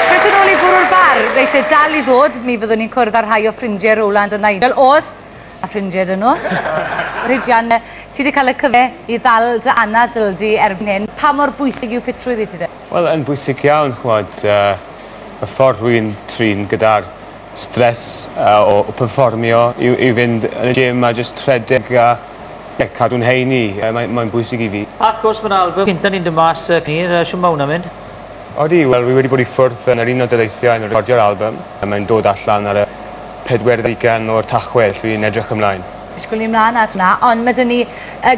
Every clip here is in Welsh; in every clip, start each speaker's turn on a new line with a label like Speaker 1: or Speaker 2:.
Speaker 1: Croeso nôl i Bwrw'r Bar. Reit te, dal i ddod, mi fyddwn ni'n cwrdd â rhai o ffrindiau Rowland a Nigel, os ma' ffrindiau 'da nhw. Rhidian, ti 'di cael y cyfle i ddal dy anadl di erbyn hyn, pa mor bwysig yw ffitrwydd i ti de? Wel yn bwysig iawn
Speaker 2: ch'mod yy y ffordd rwy'n trin gyda'r stress o perfformio yw i fynd yn y gym a jyst rhedeg a ie cadw'n heini. Mae'n bwysig i fi. A wrth gwrs mae'r albym
Speaker 3: cynta ni'n dod mas cyn hir, shwt mae hwnna'n mynd? Odi, wel
Speaker 2: wi wedi bod i ffwrdd yn yr Unol Daleithiau yn recordio'r albym. Mae'n dod allan ar y pedwerydd ugain o'r Tachwedd, dwi'n edrych ymlaen. Disgwyl ni mlaen at
Speaker 1: hwnna, ond ma' 'da ni yy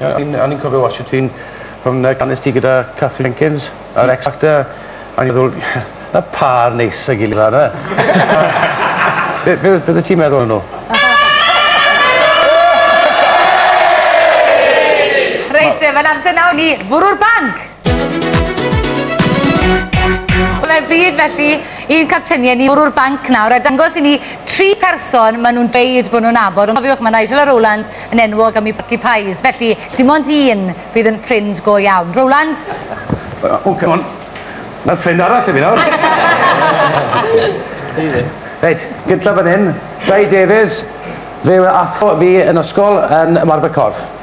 Speaker 2: Ie o'n i'n o'n i'n cofio
Speaker 4: watsio ti'n pan yy gannes ti gyda Katherine Jenkins ar X Factor a o'n i'n meddwl ma' pâr neis a'i gilydd 'ma ynde? Be' be' be' oeddet ti'n meddwl am nw?
Speaker 1: Reit te ma'n amser nawr i fwrw'r banc! Fe fydd felly un capteiniaid ni bwrw'r banc nawr a dangos i ni tri pherson maen nhw'n dweud bod nhw'n nabod. Ond cofiwch, mae Nigel a Rowland yn enwog am eu porci pies, felly dim ond un fydd yn ffrind go iawn. Rowland? O,
Speaker 4: come on. Mae ffrind arall i fi nawr. Reit, gyntaf fan hyn, Dai Davies. Fe ath fi yn ysgol yn ymarfer corff.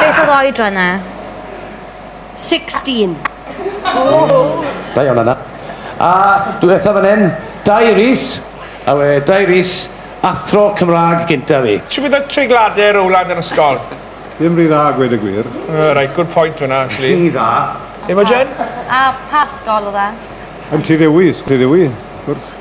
Speaker 5: Beth oedd oedran na? 16.
Speaker 4: Da iawn yna. A dwi eithaf fan hyn, Dai Rhys, a we Dai Rhys, athro Cymraeg gynta fi. Shwt bydd y treiglade
Speaker 6: rowland yr ysgol? Ddim rhy dda,
Speaker 7: gwed y gwir. Uh, right, good point
Speaker 6: hwnna, actually. Rhy dda.
Speaker 4: Imogen?
Speaker 6: A pa
Speaker 5: ysgol oedd e? Yn Tyddewi,
Speaker 7: Tyddewi, wrth.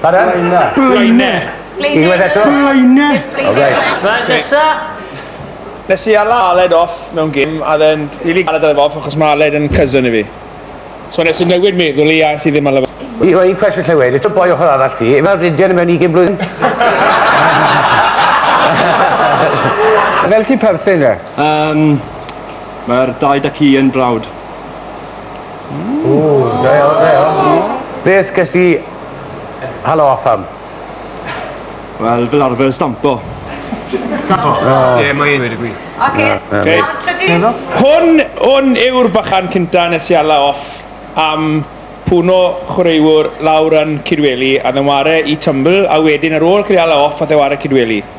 Speaker 4: Pardon? Blaena. Blaena.
Speaker 7: Unwaith eto?
Speaker 4: Blaena. Oh, right.
Speaker 7: Right,
Speaker 4: nesa.
Speaker 6: Nes i ala Aled off mewn gym, a then rili galed ar off achos mae Aled yn cousin i fi. So nes i newid meddwl i a sydd ddim ala fo. I, o,
Speaker 4: un cwestiwn lle wedi, to boi ochr arall ti, efo'r ridian mewn 20 blwyddyn?
Speaker 7: Fel ti perthyn e? Um,
Speaker 8: Mae'r dau da ci yn brawd. Ww,
Speaker 4: da iawn, da iawn. Beth ges di halo off am?
Speaker 8: Wel, fel arfer, stampo. Stampo?
Speaker 2: Oh. Ie, mae un wedi gwi. Oce, okay. trydydd. Hwn,
Speaker 6: hwn yw'r bachan cynta nes i hala off am pwno chwaraewr lawr yn Cydweli a ddeware i Tumble a wedyn ar ôl cael ei hala off a ddeware Cydweli.